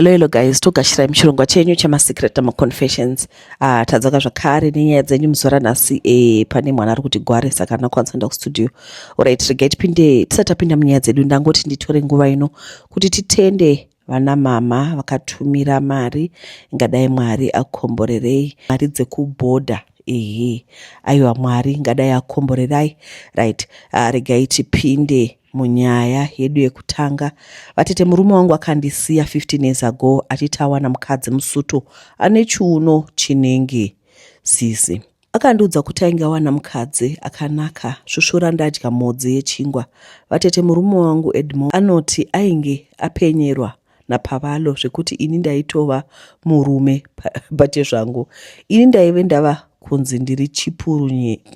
Hello hello guys, togashira muchirongwa chenyu chema secret ama confessions. Ah, tadzoka zvakare nenyaya dzenyu muzora nhasi eh, pane mwana ari kuti gware saka ana kwanisa nda kustudio. Alright, regai tipinde tisati tapinda munyaya dzedu ndangoti nditore nguva ino kuti titende vana mama vakatumira mari ingadai mwari akomborerei mari dzekuboda ehe aiwa mwari ingadai akomborerai right uh, regai tipinde Munyaya yedu yekutanga, vatete murume wangu akandisiya 15 years ago achiti awana mukadzi musuto ane chiuno chinenge sisi. Akandiudza kuti ainge awana mukadzi akanaka svusvura ndadya mhodzi yechingwa. Vatete murume wangu Edmore anoti ainge apenyerwa napavalo zvekuti ini ndaitova murume bate zvangu ini ndaive ndava kunzi ndiri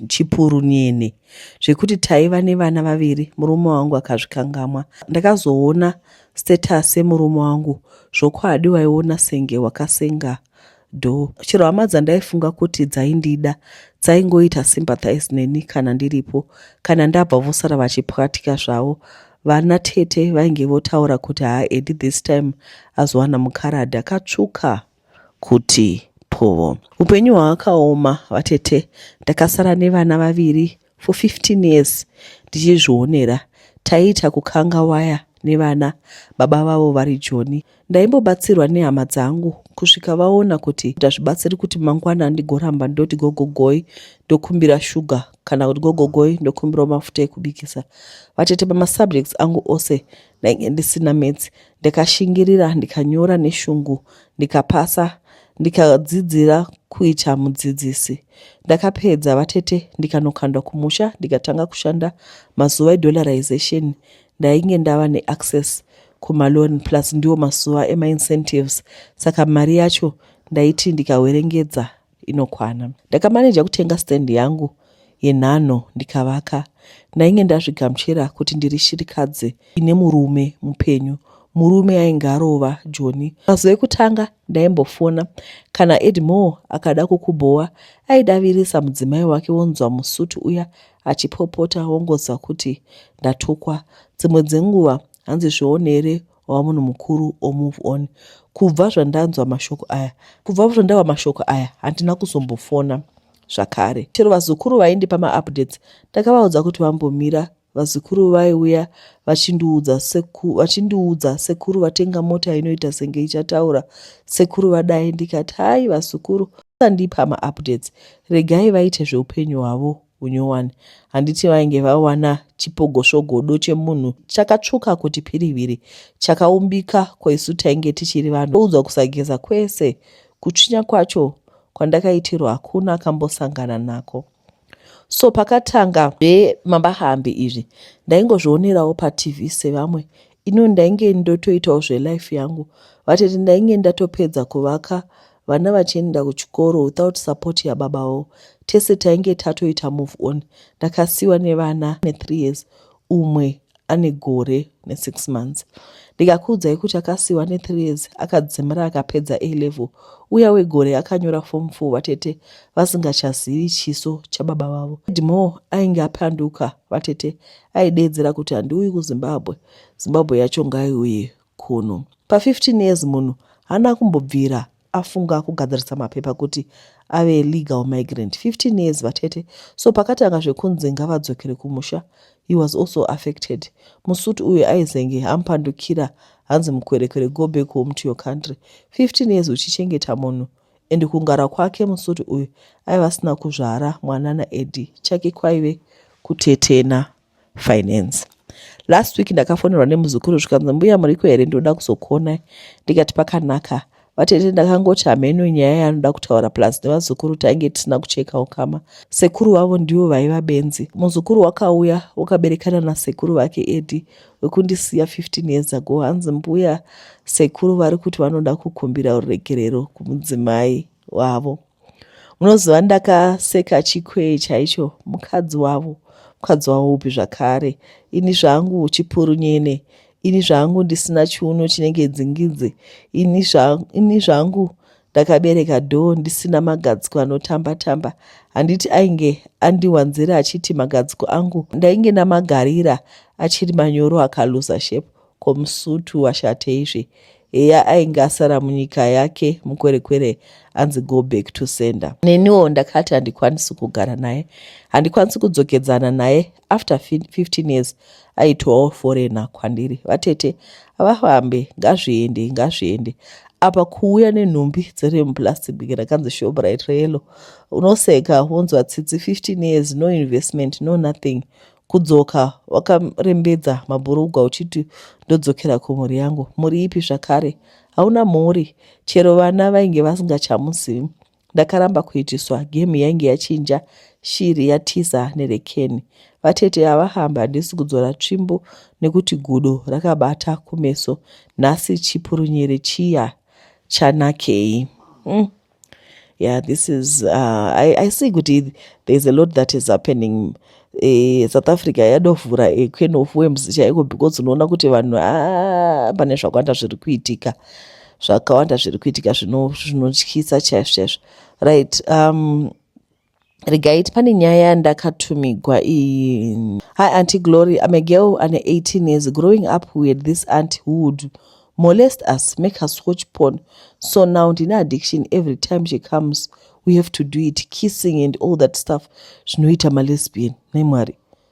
chipuru nyene zvekuti taiva nevana vaviri murume wangu akazvikangamwa ndakazoona status yemurume wangu zvokwadi waiona senge wakasenga do chero hama dzandaifunga kuti dzaindida dzaingoita sympathize neni kana ndiripo kana ndabva vosara vachipwatika zvavo vana tete vainge votaura kuti haa edi this time azowana mukaradi akatsvuka kuti povo upenyu hwaakaoma vatete ndakasara nevana vaviri for 15 years ndichizvionera taiita kukanga waya nevana baba vavo vari joni ndaimbobatsirwa nehama dzangu kusvika vaona kuti ndazvibatsiri kuti mangwana ndigoramba ndoti gogogoi ndokumbira shuga kana kuti gogogoi ndokumbirawo mafuta ekubikisa vatete pamasubjects angu ose ndainge ndisina metsi ndikashingirira ndikanyora neshungu ndikapasa ndikadzidzira kuita mudzidzisi ndakapedza vatete ndikanokandwa kumusha ndikatanga kushanda mazuva edollarization ndainge ndava neaccess kumaloan plus ndiwo mazuva emaincentives saka mari yacho ndaiti ndikawerengedza inokwana. Ndakamaneja kutenga stand yangu yenhanho ndikavaka. Ndainge ndazvigamuchira kuti ndiri shirikadzi ine murume mupenyu murume ainge arova joni mazuva ekutanga ndaimbofona kana edmore akada kukubhowa aidavirisa mudzimai wake wonzwa musutu uya achipopota wongonzwa kuti ndatukwa dzimwe dzenguva hanzi zvionere wava munhu mukuru or move on kubva zvandanzwa mashoko aya kubva zvandawa mashoko aya handina kuzombofona zvakare chero vazukuru vaindipa maupdates ndakavaudza kuti vambomira vazukuru vaiuya vachindiudza seku, vachindiudza sekuru vatenga mota inoita senge ichataura sekuru vadai ndikati hai vazukuru andipa maupdates regai vaite zveupenyu hwavo unyowani handiti vainge vawana chipogosvogodo chemunhu chakatsvuka kuti piriviri chakaumbika ko isu tainge tichiri vanhu oudzwa kusageza kwese kutsvinya kwacho kwandakaitirwa hakuna akambosangana nako so pakatanga zvemambahambi izvi ndaingozvionerawo patv sevamwe ino ndainge ndotoitawo zvelife yangu vatete ndainge ndatopedza kuvaka vana vachienda kuchikoro without support yababawo tese tainge tatoita move on ndakasiwa nevana nethree years umwe ane gore nesix months ndikakuudzai kuti akasiwa nethree years akadzimira akapedza a level uya wegore akanyora form four vatete vasingachazivi chiso chababa vavo edmore ainge apanduka vatete aideedzera kuti handiuyi kuzimbabwe zimbabwe yacho ngaiuye kuno. Pa 15 years munhu hana kumbobvira afunga kugadzirisa mapepa kuti ave legal migrant 15 years vatete so pakatanga zvekunzi ngavadzokere kumusha he was also affected musuti uyu aizenge ampandukira hanzi mukwerekwere go back home to your country 15 years uchichengeta munhu and kungara kwake musuti uyu aiva asina kuzvara mwanana edi chake kwaive kutetena finance last week ndakafonerwa nemuzukuru zvikanzi mbuya muriko here ndinoda kuzokuonai ndikati pakanaka vatete ndakangoti hameno nyaya yanoda kutaura plus nevazukuru tainge tisina kucheka ukama sekuru vavo ndivo vaiva benzi muzukuru wakauya wakaberekana nasekuru vake edi wekundisiya 15 years ago hanzi mbuya sekuru vari kuti vanoda kukumbira ruregerero kumudzimai wavo munoziva ndakaseka chikwee chaicho mukadzi wavo mukadzi wavo upi zvakare ini zvangu chipurunyene ini zvangu ndisina chiuno chinenge dzingidzi ini, zva, ini zvangu ndakabereka dhoo ndisina magadziko anotamba tamba handiti ainge andiwanzira achiti magadziko angu ndainge ndamagarira achiri manyoro akaluza shepu Ko musutu washateizve. Heya ainge asara munyika yake mukwerekwere anzi go back to sender. Neniwo ndakati handikwanisi kugara naye. Handikwanisi kudzokedzana naye after 15 years aitowawo foreigner kwandiri. Vatete havafambe ngazviende ngazviende apa kuuya nenhumbi dziri muplastic big rakanzi shoprite reyellow unoseka wonzwa tsitsi 15 years no investment no nothing Kudzoka wakarembedza mabhurugwa uchiti ndodzokera kumhuri yangu. Mhuri ipi zvakare? Hauna mhuri. Chero vana vainge vasingachamuzivi. Ndakaramba kuitiswa. Gemu yainge yachinja. Shiri yatiza nerekeni. Vatete ava hamba handisi kudzora tsvimbo nekuti gudo rakabata kumeso. Nhasi chipurunyere chiya chanakei. Mm. yeah this is uh, I, i see kuti there's a lot that is happening eh, south africa yadovhura a can of worms chaiko because unoona kuti vanhu a ah, pane zvakawanda zviri kuitika zvakawanda zviri kuitika zvinotyisa chaizvo chaizvo right um, regaiti pane nyaya yandakatumigwa iyi hi anti glory im a girl ane 18 years growing up we had this aunt who would molest us make us watch porn so now ndine addiction every time she comes we have to do it kissing and all that stuff zvinoita malesbian nemwari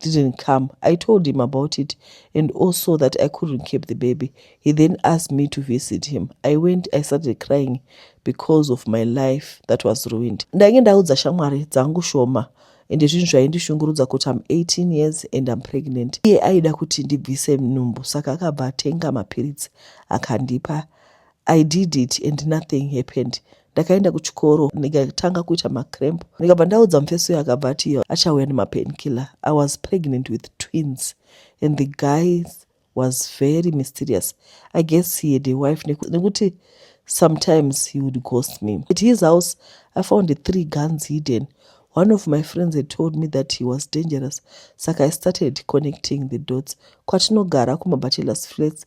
didn't come. I told him about it and also that I couldn't keep the baby. He then asked me to visit him. I went, I started crying because of my life that was ruined. Ndainge ndaudza shamwari dzangu shoma ende zvinhu zvaindishungurudza kuti am 18 years and am pregnant. Iye aida kuti ndibvise nhumbu saka akabva atenga mapiritsi akandipa. I did it and nothing happened. ndakaenda kuchikoro ndikatanga kuita macramp ndikabva ndaudza mufesi uyo akabva ati iyo achauya nemapainkiller i was pregnant with twins and the guys was very mysterious i guess he had a wife nekuti sometimes he would ghost me at his house i found the three guns hidden one of my friends had told me that he was dangerous saka i started connecting the dots kwatinogara kumabachelors flats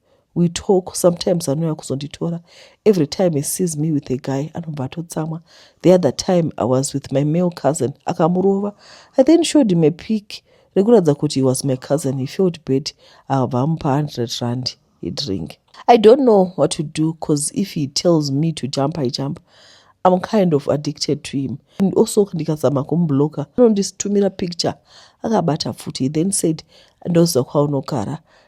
we talk sometimes anouya kuzonditora every time he sees me with a guy anobva atotsamwa the other time i was with my male cousin akamurova i then showed him a pic rekuratidza kuti he was my cousin he felt bad akabva amupa 100 rand he drink i don't know what to do cause if he tells me to jump i jump i'm kind of addicted to him and also ndikazama kumubloka anonditumira picture akabata futi he then said ndoziva kwaunogara no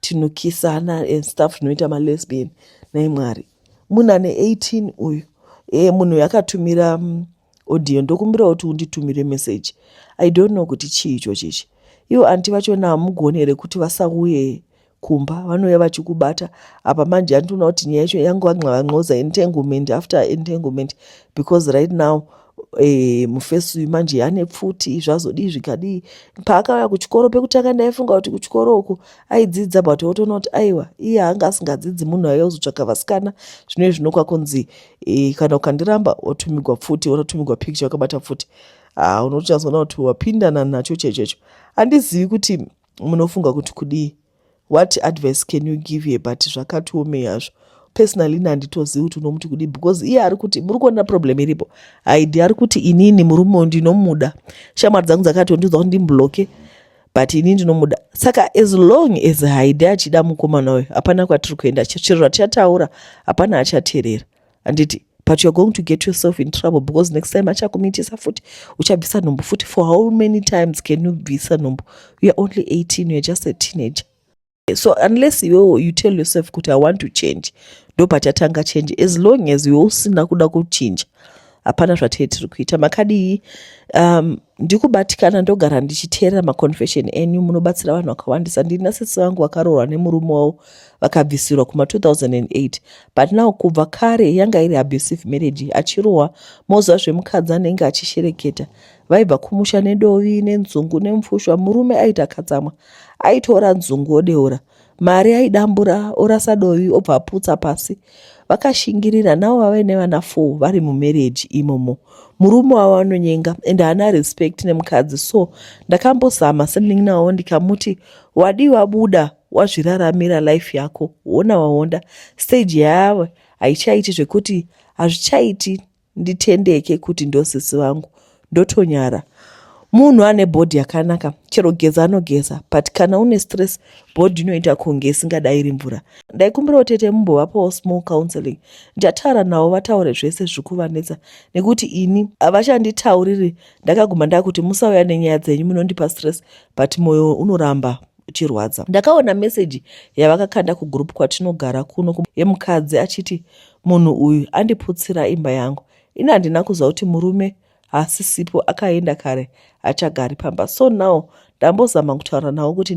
tinokisana and stuff zvinoita malesbian nai mwari munhu ane 18 uyu e munhu uyu akatumira mm, audio ndokumbira kuti unditumire message i don't know kuti chii ichochi ichi ivo anti vachona hamugoni here kuti vasauye kumba vanouya vachikubata apa manje andinoona kuti nyaya yacho yangu vanxavanxoza entanglement after entanglement because right now e, mufesi uyu manje ane pfuti zvazodii zvikadii paakauya kuchikoro pekutanga ndaifunga kuti kuchikoro uku aidzidza but otoona kuti aiwa iye anga asingadzidzi munhu aiya kuzotsvaka vasikana zvino izvi nokwa kunzi e, kana ukandiramba otumigwa pfuti ototumigwa picture wakabata pfuti ah, unotochazoona kuti wapindana nacho chaicho icho handizivi kuti munofunga kuti kudii what advice can you give here but zvakatiomei hazvo personally ini handitozivi kuti unomuti kudii because iye ari kuti muri kuona problem iripo haidi ari kuti inini murume ndinomuda shamwari dzangu dzakatondiudza kuti ndimbloke but ini ndinomuda saka as long as haidi achida mukomana uyo hapana kwatiri kuenda chero zvatichataura hapana achaterera handiti but youare going to get yourself in trouble because next time achakumitisa futi uchabvisa nhumbu futi for how many times can you bvisa nhumbu youare only 18 youare just a teenager so unless iwewo you tell yourself kuti i want to change ndopachatanga change as long as iwe usina kuda kuchinja hapana zvatee tiri kuita makadii um, ndikubatikana ndogara ndichiteerera maconfession enyu munobatsira vanhu vakawandisa ndiri nasisi vangu vakaroorwa nemurume wavo vakabvisirwa kuma 2008 but now kubva kare yanga iri abusive marriage achirohwa moziva zvemukadzi anenge achishereketa vaibva kumusha nedovi nenzungu nemfushwa murume aita katsamwa aitora nzungu odeura mari aidambura orasa dovi obva aputsa pasi vakashingirira navo vave nevana four vari mumarriage imomo murume wavo anonyenga and haana respect nemukadzi so ndakambozama semunin'ina wavo ndikamuti wadii wabuda wazviraramira life yako wona waonda stage yayave haichaiti zvekuti hazvichaiti nditendeke kuti ndosisi vangu ndotonyara munhu ane bhodhi yakanaka chero geza anogeza but kana une stress bhodhi inoita kunge isingadairi mvura ndaikumbirawo tete mumbovapawo small counseling ndataura navo vataure zvese zviri kuvanetsa nekuti ini havachanditauriri ndakaguma ndakuti musauya nenyaya dzenyu munondipa stress but mwoyo unoramba uchirwadza ndakaona meseji yavakakanda kugroup kwatinogara kuno yemukadzi achiti yeah, Munhu uyu andiputsira imba yangu. Ini handina kuziva kuti murume haasisipo akaenda kare achagari pamba. So now ndambozama kutaura navo kuti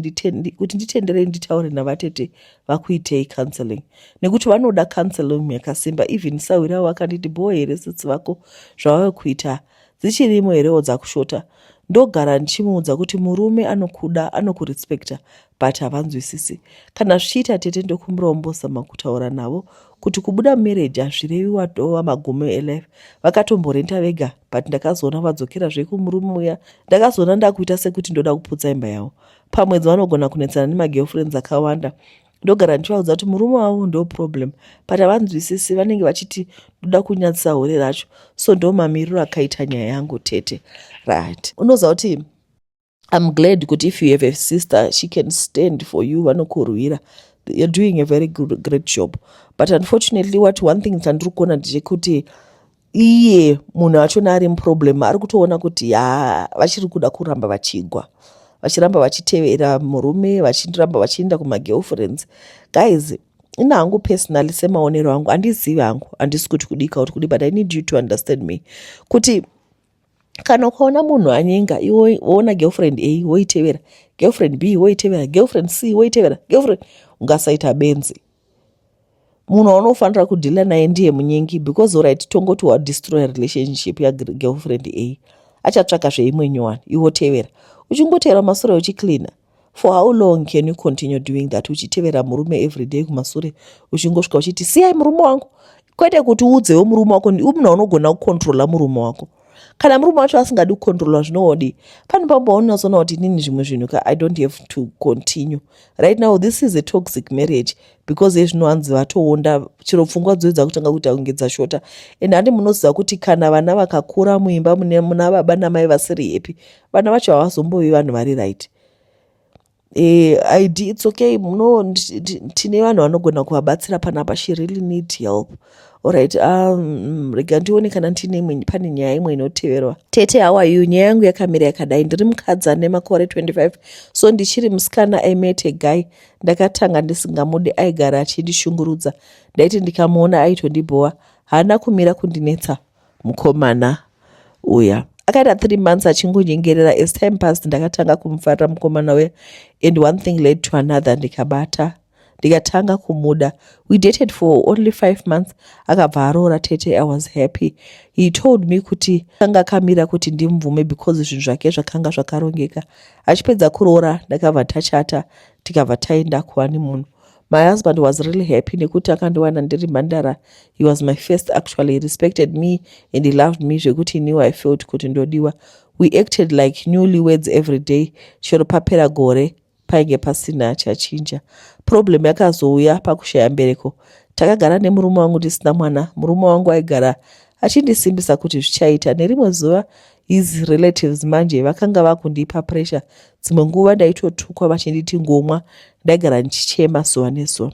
nditenderei nditaure navatete vakuitei counseling nekuti vanoda counseling yakasimba even sahwiri avo vakanditi bhoo here sitsi vako zvavave kuita dzichirimo herewo dzakushota ndogara ndichimuudza kuti murume anokuda anokurespecta but havanzwisisi kana zvichiita tete ndokumurombosa makutaura navo kuti kubuda mumereji hazvirevi watova magumo elife vakatomborenta vega but ndakazoona vadzokera zvekumurume uya ndakazoona ndakuita sekuti ndoda kuputsa imba yavo pamwedzi vanogona kunetsana nemagirlfriends akawanda ndogara ndichivaudza kuti murume wavo ndo problem but havanzwisisi vanenge vachiti ndoda kunyadzisa hore racho so ndo mamiriro akaita nyaya yangu tete right unoziva kuti I'm glad kuti if you have a sister she can stand for you vanokurwira you're doing a very good, great job but unfortunately what one thing chandiri kuona ndechekuti iye munhu achona ari muproblem ari kutoona kuti ha vachiri kuda kuramba vachigwa vachiramba vachitevera murume vachiramba vachienda kumagirlfriends guys ina hangu personally semaonero angu andizivi hangu handisi kuti kudika kuti kudi but i need you to understand me kuti kana ukaona munhu anyenga iwe woona girlfriend a woitevera girlfriend b woitevera girlfriend c woitevera girlfriend ungasaita benzi munhu waunofanira kudhila naye ndiye munyengi because orit tongoti wadestroya relationship yagirlfriend a achatsvaka zveimwe nyowani iwotevera uchingotevera masure uchicleana for how long can you continue doing that uchitevera murume everyday kumasure uchingosvika uchiti siyai murume wangu kwete kuti uudzewo murume wako umna unogona kukontrola murume wako kana murume wacho asingadi kukontrola zvinowodi pane pamba unozoona kuti inini zvimwe zvinhu ka i don't have to continue right now this is a toxic marriage because ezvino hanzi vatoonda chero pfungwa dzoedza kutanga kuita kunge dzashota and handi munoziva kuti kana vana vakakura muimba muna baba namai vasiri happy vana vacho havazombovi vanhu vari right eh, id its okay no tine vanhu vanogona kuvabatsira panapa she really need help orit um, rega ndione kana ndine pane nyaya imwe inoteverwa tete hawayu nyaya yangu yakamira yakadai ndiri mukadzi ane makore 25 so ndichiri musikana aimete guy ndakatanga ndisingamude aigara achindishungurudza ndaiti ndikamuona aitondibhowa haana kumira kundinetsa mukomana uya akaita three months achingonyengerera as time past ndakatanga kumufarira mukomana uya and one thing led to another ndikabata ndikatanga kumuda we dated for only five months akabva aroora tete i was happy he told me kuti anga akamira kuti ndimubvume because zvinhu zvake zvakanga zvakarongeka achipedza kuroora ndakabva tachata tikabva taenda kuani munhu My husband was really happy nekuti akandiwana ndiri mhandara. He was my first actually. He respected me and he loved me zvekuti he knew I felt kuti ndodiwa. We acted like newly words every day. Chero papera gore painge pasina chachinja. Problem yakazouya pakushaya mbereko. Takagara nemurume wangu tisina mwana. Murume wangu aigara achindisimbisa kuti zvichaita. Nerimwe zuva his relatives manje vakanga vakundipa pressure dzimwe nguva ndaitotukwa vachinditi ngomwa ndaigara ndichichema zuva nezuva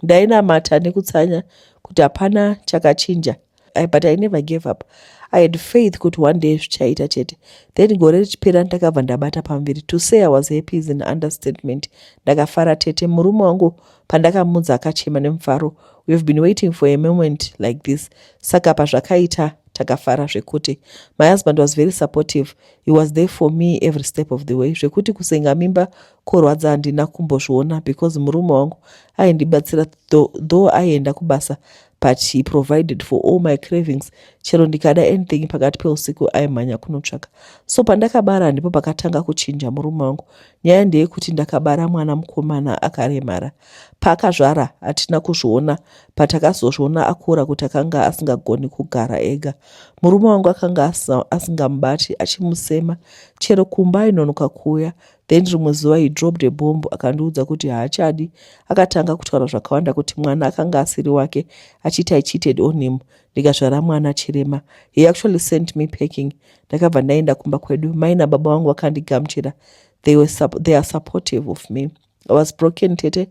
ndainamata nekutsanya kuti hapana chakachinja I, but i never gave up i had faith kuti one day zvichaita chete then gore richipera ndakabva ndabata pamuviri to say i was happy is an understatement ndakafara tete murume wangu pandakamudza akachema nemufaro we have been waiting for a moment like this saka pazvakaita takafara zvekuti my husband was very supportive he was there for me every step of the way zvekuti kusenga mimba korwadza handina kumbozviona because murume wangu aindibatsira though aienda kubasa but he provided for all my cravings chero ndikada anything pakati peusiku aimhanya kunotsvaka so pandakabara ndipo pakatanga kuchinja murume wangu nyaya ndeyekuti ndakabara mwana mukomana akaremara Paakazvara hatina kuzviona patakazozviona akura kuti akanga asingagoni kugara ega. Murume wangu akanga asingamubati achimusema chero kumba ainonoka kuuya then rimwe zuva he dropped a bomb akandiudza kuti haachadi. Akatanga kutaura zvakawanda kuti mwana akanga asiri wake achiti i cheated on him ndikazvara mwana chirema. He actually sent me packing. Ndakabva ndaenda kumba kwedu. Mai nababa vangu vakandigamuchira. They, were, they are supportive of me. I was broken tete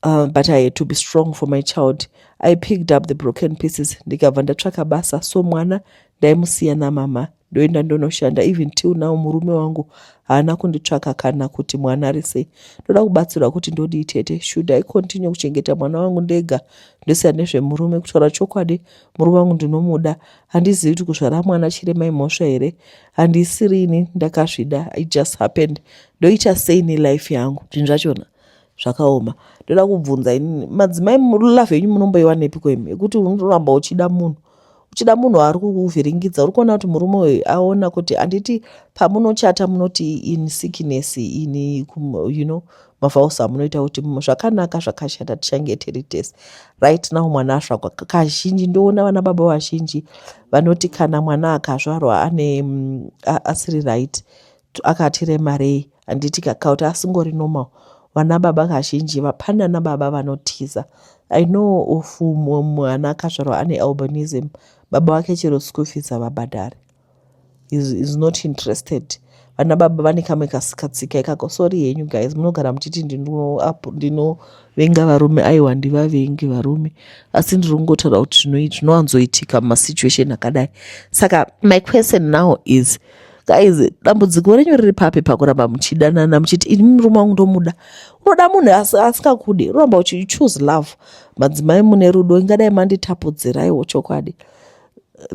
uh, but I had to be strong for my child. I picked up the broken pieces ndikabva ndatsvaka basa so mwana ndaimusiya namama ndoenda ndonoshanda even till now murume wangu haana kunditsvaka kana kuti mwana ari sei ndoda kubatsirwa kuti ndodii tete should i continue kuchengeta mwana wangu ndega ndosiya nezvemurume kutaura chokwadi murume wangu ndinomuda handizivi kuti kuzvara mwana chirema imhosva here handisirini ndakazvida i just happened ndoita sei nelife yangu zvinhu zvachona zvakaoma ndoda kubvunza ini madzimai love yenyu munomboiwanepiko imi yekuti unoramba uchida munhu uchida munhu ari kukuvhiringidza uri kuona kuti murume uyu aona kuti handiti pamunochata munoti in sickness in you know mavaus amunoita kuti zvakanaka zvakashata tichange tiri tese right now mwana asvakwa kazhinji ndoona vana baba vazhinji vanoti kana mwana akazvarwa ane mm, asiri right akati remarei handiti kakauti asingori normal vana baba kazhinji vapanda nababa vanotiza i know of mumwe mwana akazvarwa ane albanism baba vake chero school fees havabhadhari is, is not interested vana baba vane kamwe kasikatsika ikako sori henyu guys munogara muchiti ndinovenga varume aiwa ndivavengi varume asi ndiri kungotaura kuti zvinowanzoitika mumasituation akadai saka my question now is guys dambudziko renyu riri papi pakuramba muchidanana muchiti ini murume wangu ndomuda unoda munhu asingakude unoramba uchi choose love madzimai mune rudo ingadai manditapudziraiwo chokwadi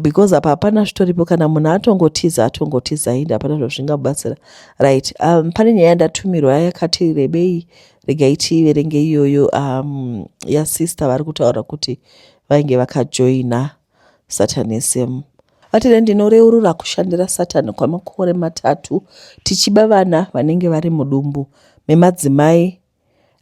because apa hapana zvitoripo kana munhu atongotiza atongotiza hinde hapana zvazvingabatsira right um, pane nyaya yandatumirwa yakati rebei regai tiiverenge iyoyo um, yasister vari kutaura kuti vainge vakajoina Satani SM. Atile ndinoreurura kushandira Satani kwamakore matatu tichiba vana vanenge vari mudumbu memadzimai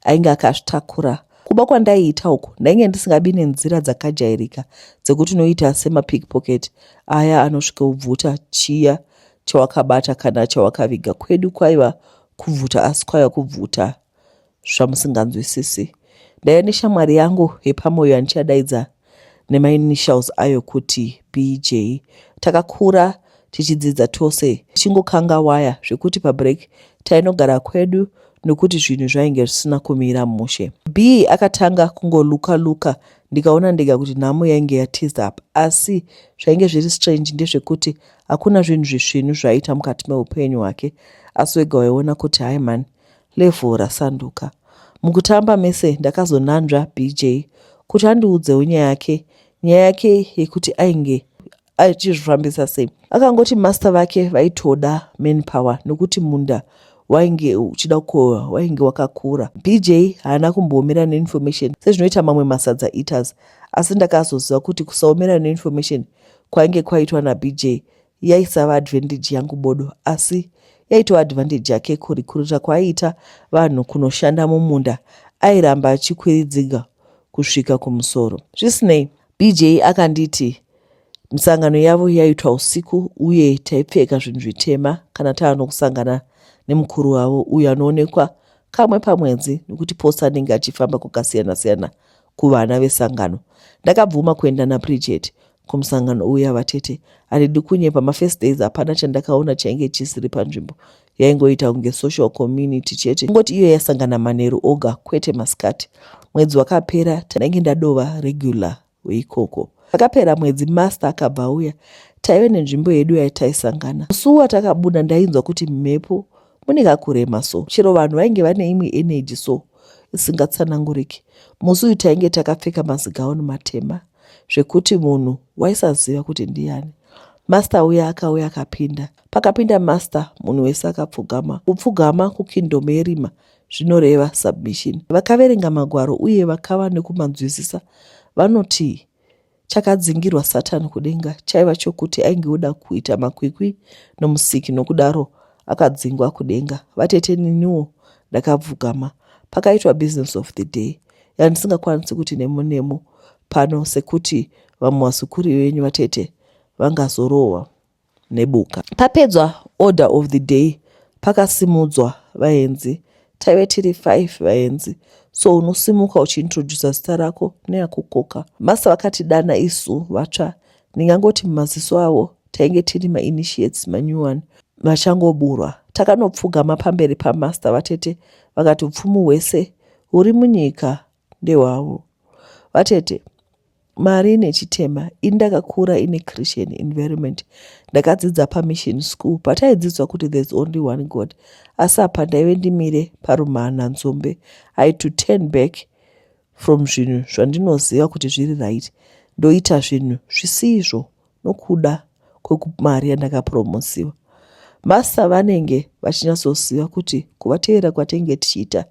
ainge akazvitakura. Kuba kwandaiita uku ndainge ndisingabi nenzira dzakajairika dzekuti unoita semapickpocket aya anosvika ubvuta chiya chawakabata kana chawakaviga. Kwedu kwaiva kubvuta asi kwaiva kubvuta zvamusinganzwisisi. Ndaiva neshamwari yangu yepamoyo yandichadaidza nemainitials ayo kuti BJ. Takakura tichidzidza tose tichingokanga waya zvekuti pabreak tainogara kwedu nokuti zvinhu zvainge zvisina kumira mushe. B akatanga kungoluka luka ndikaona ndega kuti nhamo yainge yatiza apa asi zvainge zviri strange ndezvekuti hakuna zvinhu zvisvinu zvaiita mukati meupenyu hwake asi wega waiona kuti hai mhani Level rasanduka. Mukutamba mese ndakazonanzva BJ kuti andiudzewo nyaya yake nyaya yake yekuti ainge achizvifambisa sei akangoti master vake vaitoda manpower nokuti munda wainge uchida kukohwa wainge wakakura bj haana kumboomera neinformation sezvinoita mamwe masadza eaters asi ndakazoziva kuti kusaomera neinformation kwainge kwaitwa nabj yaisava advantage yangu bodo asi yaitova advantage yake kurikuruta kwaiita vanhu kunoshanda mumunda airamba achikwiridziga kusvika kumusoro zvisinei bj akanditi misangano yavo yaitwa usiku uye taipfeka zvinhu zvitema kana tava nokusangana nemukuru wavo uyo anoonekwa kamwe pamwedzi nokuti posa anenge achifamba kwakasiyana-siyana kuvana vesangano ndakabvuma kuenda naprijet kumusangano uya vatete handidi kunyepa mafirst days hapana chandakaona chainge chisiri panzvimbo yaingoita kunge social community chete kungoti iyo yasangana manheru oga kwete masikati mwedzi wakapera tanenge ndadova regular weikoko akapera mwedzi master akabva auya taive nenzvimbo yedu yaitaisangana musuwa takabuda ndainzwa kuti mhepo mune kakurema so chero vanhu vainge vane imwe energy so isingatsananguriki musi uyu tainge takapfeka mazigauni matema zvekuti munhu waisaziva kuti ndiyani master uya akauya akapinda pakapinda master munhu wese akapfugama kupfugama kukingdom yerima zvinoreva submission vakaverenga magwaro uye vakava nekumanzwisisa vanoti chakadzingirwa satani kudenga chaiva chokuti ainge oda kuita makwikwi nomusiki nokudaro akadzingwa kudenga vatete niniwo ndakapfugama pakaitwa business of the day yandisingakwanisi kuti nemo nemo pano sekuti vamwe vazukuri venyu vatete vangazorohwa nebuka papedzwa order of the day pakasimudzwa vaenzi taive tiri five vaenzi so unosimuka uchiintrodusa zita rako neakukoka masa vakatidana isu vatsva ndingangoti mumaziso avo tainge tiri mainitiates manew one vachangoburwa takanopfugama pamberi pamaster vatete vakati upfumu hwese huri munyika ndehwavo vatete mari nechitema ini ndakakura ine christian environment ndakadzidza pamission school pataidzidzwa kuti there's only one god asi apa ndaive ndimire parumhanha nzombe i to turn back from zvinhu zvandinoziva kuti zviri right ndoita zvinhu zvisizvo nokuda kwemari yandakapromosiwa masta vanenge vachinyatsoziva kuti kuvateerera kwatainge tichiita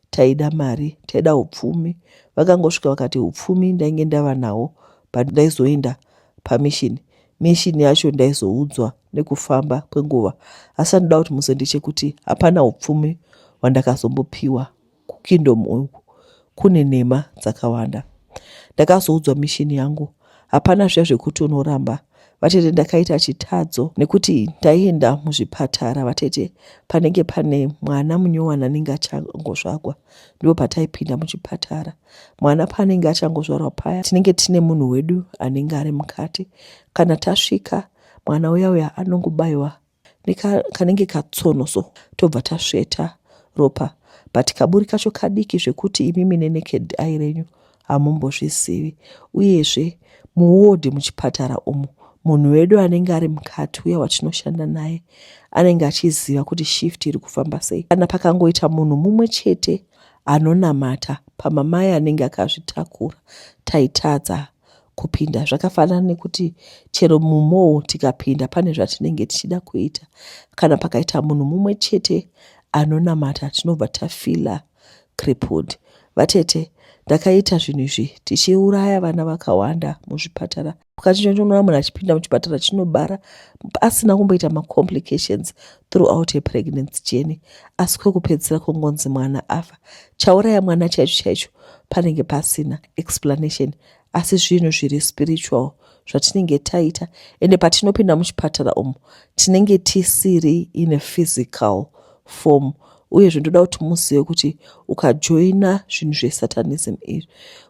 taida mari taida upfumi vakangosvika vakati upfumi ndainge ndava nawo but ndaizoenda pamishini mishini yacho ndaizoudzwa nekufamba kwenguva asi anoda kuti muzendechekuti hapana upfumi hwandakazombopiwa kukingdom uku kune nhema dzakawanda ndakazoudzwa mishini yangu hapana zviya zvekuti unoramba vatete ndakaita chitadzo nekuti ndaienda muzvipatara vatete panenge pane mwana munyowani anenge achangozvagwa ndipo pataipinda muchipatara mwana paanenge achangozvarwa paya tinenge tine munhu wedu anenge ari mukati kana tasvika mwana uya uya anongobayiwa nekanenge katsono so tobva tasveta ropa but kaburi kacho kadiki zvekuti imimi neneked ai renyu hamumbozvizivi uyezve muwodhi muchipatara umu munhu wedu anenge ari mukati uya watinoshanda naye anenge achiziva kuti shift iri kufamba sei kana pakangoita munhu mumwe chete anonamata pamamai anenge akazvitakura taitadza kupinda zvakafanana nekuti chero mumou tikapinda pane zvatinenge tichida kuita kana pakaita munhu mumwe chete anonamata tinobva tafila crippled vatete ndakaita zvinhu izvi tichiuraya vana vakawanda muzvipatara pukachinonona munhu achipinda muchipatara chinobara asina kumboita macomplications throughout a pregnancy journey asi kwekupedzisira kongonzi mwana afa chauraya mwana chaicho chaicho panenge pasina explanation asi zvinhu zviri spiritual zvatinenge taita ende patinopinda muchipatara umu tinenge tisiri in a physical form uye zvindoda kuti muzive kuti ukajoina zvinhu zvesatanism izvi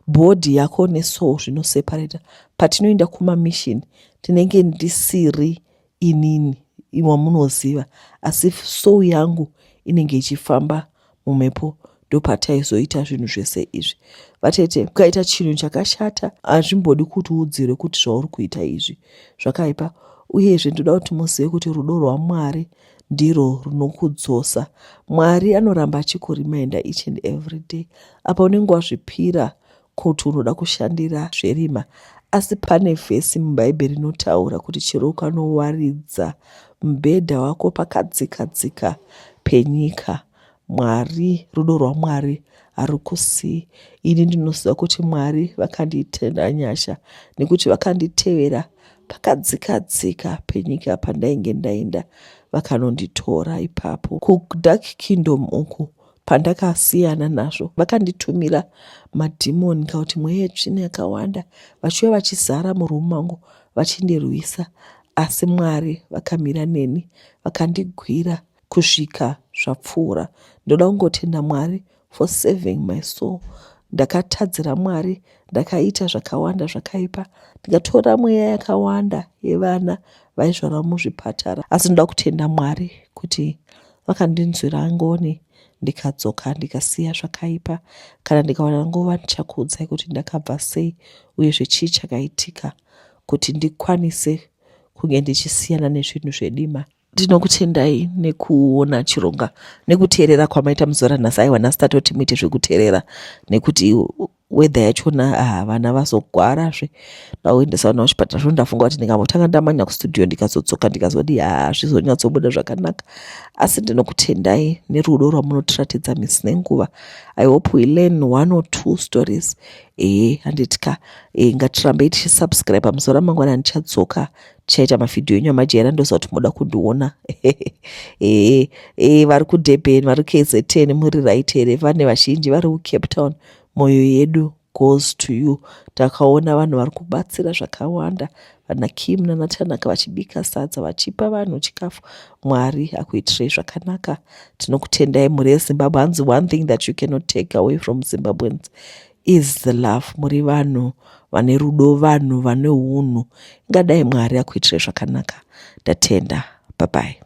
bhodhi yako nesoul zvinoseparata patinoenda kumamishini tinenge ndisiri inini wamunoziva asi soul yangu inenge ichifamba mumhepo ndopataizoita zvinhu zvese izvi vatete ukaita chinhu chakashata hazvimbodi kuti udzirwe kuti zvauri kuita izvi zvakaipa uyezve ndoda kuti muzive kuti rudo rwamwari ndirwo runokudzosa mwari anoramba achikurimainda each and every day apa unenge wazvipira Koti unoda kushandira zverima asi pane vhesi mubhaibheri rinotaura kuti chero ukanowaridza mubhedha wako pakadzika dzika penyika mwari rudo rwamwari harukusii ini ndinoziva kuti mwari vakandiitenda nyasha nekuti vakanditevera pakadzika dzika penyika pandainge ndaenda vakanonditora ipapo kudark kingdom uku Pandakasiyana nazvo, vakanditumira madhimoni kana kuti mweya yetsvina yakawanda vachiuya vachizara murumu mangu vachindirwisa, asi Mwari vakamira neni vakandigwira kusvika zvapfuura. Ndoda kungotenda Mwari for saving my soul. Ndakatadzira Mwari, ndakaita zvakawanda zvakaipa, ndikatora mweya yakawanda yevana vaizvarwa muzvipatara, asi ndoda kutenda Mwari kuti Vakandinzwira ngoni ndikadzoka ndikasiya zvakaipa. Kana ndikawana nguva ndichakuudzai kuti ndakabva sei uye zvechii chakaitika kuti ndikwanise kunge ndichisiyana nezvinhu zvedima. Ndinokutendai nekuona chironga nekuteerera kwamaita muzuva ranhasi aiwa nhasi tatoti muite zvekuteerera nekuti weather yachona ah, vana vazogwarazve ndakuendesa vana kuchipatara zvo ndafunga kuti ndikambotanga ndamanya kustudio ndikazodzoka ndikazoti ha ah, zvizonyatsobuda zvakanaka asi ndinokutendai nerudo rwamunotiratidza misi nenguva i hope we learn one or two stories ee handiti ka e, ngatirambei tichisubscribe pamusoro amangwana ndichadzoka tichaita mavhidhiyo enyu amajera ndoziva kuti moda kundiona ee e, vari kudurban vari kzn muri right here vane vazhinji vari kucape town e, moyo yedu goes to you takaona vanhu vari kubatsira zvakawanda vana kim nana tanaka vachibika sadza vachipa vanhu chikafu mwari akuitirei zvakanaka tinokutendai mhuri yezimbabwe hanzi one thing that you cannot take away from zimbabweans is the love muri vanhu vane rudo vanhu vane unhu ingadai mwari akuitirei zvakanaka ndatenda babai